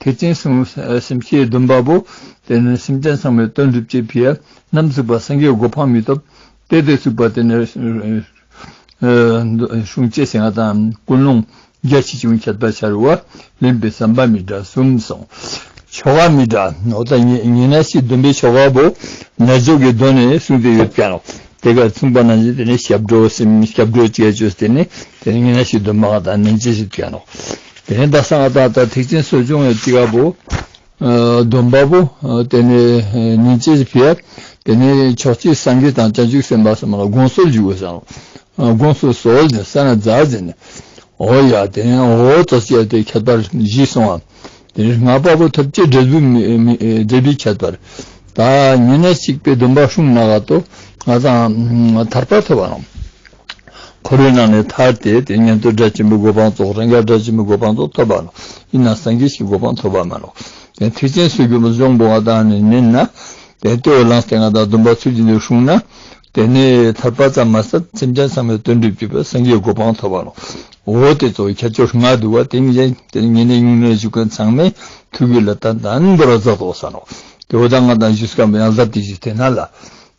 ཐེག་ཆེན་གསུང་སེམས་ཤེས་བདུན་པ་པོ། དེ་ནས་སེམས་ཅན་ཚང་མའི་ལྟོས་འགྲུབ་ཅེས་བི་ཡ་ནམ་གཟིགས་པ་སངས་རྒྱས་གོ་འཕང་མི་ཐོབ། དེ་དེར་ཞུགས་པ་དེ་ནས་གཞུང་བཅས་ཞིང་ཨ་དང་ཀུན་སློང་རྒྱ་ཆེ་ཆུང་ཁྱད་པར་ཤར་བ་ལེན་པའི་བསམ་པ་མི་འདྲ་གསུམ་སོང། ཆོ་ག་མི་འདྲ་ནོ་ད་ཉི་ན་ཤེས་བདུན་པའི་ཆོ་ག་པོ། རྣལ་འབྱོར་གྱི་གདོད་ནས་གསུངས་ཏེ་ཡོད་ཀྱང། དེ་གར་མཚུངས་པ་རྣམས་ཀྱིས་དེ་ནི་ཞབས་བྲོ་སེམས་ཞབས་བྲོ་བཅས་བརྗོད་དེ་ནི་དེ་ནི་ཉི་ན་ཤེས་བདུན་པ་ང་དང་ནན་ཅི་ཞིག་བྱས་ནོ། དེ་ནས་ཟླ་གསང་བ་དང་ད་ཐེག་ཆེན་གསོ་སྦྱོང་བའི་སྤྱི་བ་པོ། སྡོམ་པ་པོ། དེ་ནས་ཉིན་བྱེད་ཀྱི་བེར། དེ་ནས་ཕྱོགས་གཅིག་སངས་རྒྱས་དང་བྱང་ཆུབ་སེམས་དཔའ་སོགས་མ་ལ་དགོངས་གསོལ་འཇུག་པར་བྱའོ། དགོངས་གསོལ་གསོལ་ཏེ་ས་ན་བཛྲ་བྱས་ནས། ཨོ་ཡ། དེ་ནས་ཨོ་ཏོ་བྱས་ཏེ་ཁྱད་པར་བཞི་སོང་ངམ། དེ་ནས་སྔགས་པ་པོ་ཐུབ་བསྐྱེད་འབྲས་བུའི་ཁྱད་པར། ད་ཉེ་གནས་གཅིག་པའི་སྡོམ་པ་ཧྲུང་ནཱ་ག་ཏོ། ང་དང། ཐར་པ་ཐོབ་བའམ། འཁོར་བའི་ནང་ནས་ཐར་ཏེ་དེ་ཉན་ཐོས་སྒྲ་ཆེན་པོའི་གོ་འཕང་རྫོགས་རང་རྒྱལ་སྒྲ་ཆེན་པོའི་གོ་འཕང་རྫོགས་ཐོབ་པ་ལ་ཡིན་ན་སངས་རྒྱས་ཀྱི་གོ་འཕང་ཐོབ་པ་མ་ལགས། དེ་ཐེག་ཆེན་སུ་གྱུར་པ་འབྱུང་པོ་བ་དག་ནི་མིན་ན། དེ་ལྟོས་ལ་ལངས་ཏེ་ང་དང་སྡོམ་པ་ཚུལ་བཞིན་དུ་ཞུགས་ན། དེ་ནས་ཐར་པ་ཙམ་མ་ཟད་སེམས་ཅན་ཚང་མའི་དོན་བསྒྲུབ་ཅིག་པའི་སངས་རྒྱས་གོ་འཕང་ཐོབ་པ་ལགས། འོ་དེ་ཚོ་ཁྱེད་ཚོ་ང་འདུལ་བ་དེ་ངས་དེ་ཉིད་ནས་ཉུང་ནས་བཞུགས་མཁན་ཚང་མས་ཐུགས་ཀྱི་ལ་དྭགས་དང་འདོར་བ་རྫོགས་དོགས་ས་ནོ། དེ་འོ་ད་ང་དང་བཞུགས་སྐབས་ཡང་ལབ་དེ་བཞུགས་དེ་ན་ལ།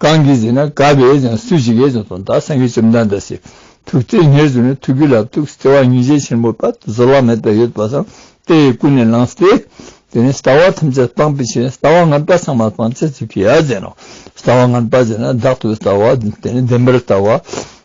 གང་གིས་ཟེར་ན་དགའ་བས་ཀྱང་སུ་ཞིག་གིས་ཀྱང་དོ་བདག་སེང་གེ་བཅོམ་ལྡན་འདས་ཞེས་ཐུགས་བརྩེ་ངེར་བཟུང་ནས་ཐུགས་ཀྱི་ལ་ཐུགས་བརྩེ་བ་སྙིང་རྗེ་ཆེན་པོ་དཔལ་དུ་གཟོད་བླ་མེད་པའི་ཡོད་པ་དང་དེ་ཡི་ཀུན་ནས་བསླངས་ཏེ། དེ་ནས་ཟླ་བ་ཐམས་ཅད་སྤངས་པའི་ཕྱིར་ཟླ་བ་ལྔ་པ་ཚང་མ་སྤངས་ཚེ་ཚུལ་ཁྲིམས་ཡར་བརྩེགས་ན་ཟླ་བ་ལྔ་པ་བྱས་ན་བདག་ཏུ་ལྟ་བ་དེ་ནི་བདེན་པར་ལྟ་བ།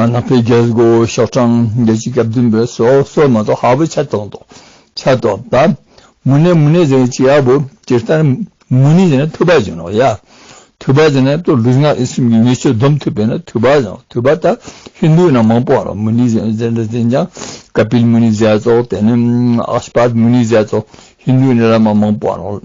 ནག་པའི་རྒྱལ་སྒོ་ཤོག་གྲངས་བརྒྱད་ཅུ་གྱ་བདུན་པའི་སོ་སོ་མ་གཏོགས་ཧ་བོ་ཆ་ཏོག་ཏོག་ཆ་ཏོག་པ། མུ་ནེ་མུ་ནེ་ཟེར་ནས་ཅི་ཧ་བོ་ཇི་ལྟར་མུ་ནེ་ཟེར་ན་ཐུབ་པ་ཇི་ནོག་ཡ། ཐུབ་པ་ཟེར་ན་ཏོ་ལུས་ངག་ཡིད་གསུམ་གྱི་ཉེས་སྤྱོད་སྡོམ་ཐུབ་པས་ན་ཐུབ་པ་ཟེར་ནོ་ཐུབ་པ་ད་ཧིན་དུའི་ནང་མང་པོ་ཨ་ར་མུ་ནེ་ཟེར་ཟེར་འདྲ་ཟིན་ཀྱང་ཀ་པིལ་མུ་ནེ་ཟེར་ཏོག་དེ་ནི་ཨགས་པར་མུ་ནེ་ཟེར་ཏོག་ཧིན་དུའི་ནི་ར་མ་མང་པོ་ཨ་ར།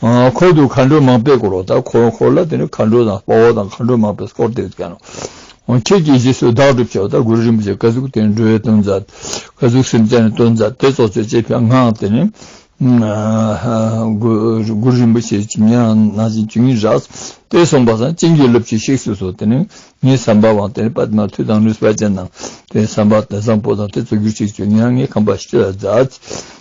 ཁོལ་དུ་མཁའ་འགྲོའི་མང་པས་བསྐོར་བ་དང་ཁོལ་འཁོར་ལ་དེ་ནས་མཁའ་འགྲོ་དང་དཔའ་བོ་དང་མཁའ་འགྲོའི་མང་པས་བསྐོར་ཏེ་བསྐྱལ་ནོ། ཁྱེད་ཀྱིས་རྗེས་སུ་བདག་སྒྲུབ་བྱའོ་སྟ་གོན་རིན་པོ་ཆེ་བཀའ་གཙུག་ཏེ་འགྲོའི་གཏོར་མཛད། བཀའ་གཙུག་སེམས་དཔའི་གཏོར་མཛད་དེ་གཙོ་ཆེར་བྱེད་པའི་སྔགས་དེ་ནི། གུ་རུ་རིན་པོ་ཆེའི་བྱིན་ཉན་རང་སྣང་ཅན་བཅུ་གཉིས་བསྒྲགས། དཔལ་གསུམ་པ་དང་བྱིན་གྱིས་རླབས་ཀྱིས་གཤེགས་སུ་གསོལ་དེ་ནི་ངའི་བསམ་པ་བང་དེ་ནི་པདྨ་མཐུ་དང་ནུས་པ་ཅན་དང་དེའི་བསམ་པ་དེ་བཟང་པོ་དང་དེ་གཙོ་གྱུར་ཅིག་བཅུ་གཉིས་ལྔའི་ཁང་པ་བཞི་ལ་བསྒྲགས།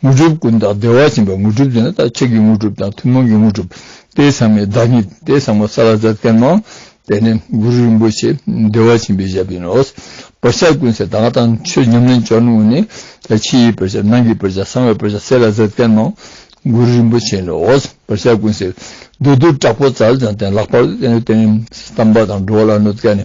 དངོས་གྲུབ་ཀུན་བདག་བདེ་བ་ཅན་པའི་དངོས་གྲུབ་ཅེས་ན་བདག་བསྐྱེད་ཀྱི་དངོས་གྲུབ་དང་ཐུན་མོང་གི་དངོས་གྲུབ། དེ་ཚང་མའི་བདག་ཉིད་དེ་ཚང་མ་ས་ལ་བཙལ་བསྟན་ནོ། དེ་ནི་གུ་རུ་རིན་པོ་ཆེ་བདེ་བ་ཆེན་པོས་བཞེད་པ་ཡིན་ནོ། བག་ཆགས་ཀུན་སེལ་བདག་དང་ཆོས་ཉམས་ལེན་བྱ་ནུས་པ་ནི། ཕྱི་ཡི་བག་ཆགས་ནང་གི་བག་ཆགས་གསང་བའི་བག་ཆགས་ས་ལ་བཙལ་བསྟན་ནོ། གུ་རུ་རིན་པོ་ཆེ་ནི་བག་ཆགས་ཀུན་སེལ། བདུད་འདུལ་དྲག་པོ་ཛཱ་ལ་ཅང་ཏན་ལྷག་པར་བསྟན། གཏམ་དཔག་དང་འགྲོ་བ་ལ་གནོད་བསྐལ་ནི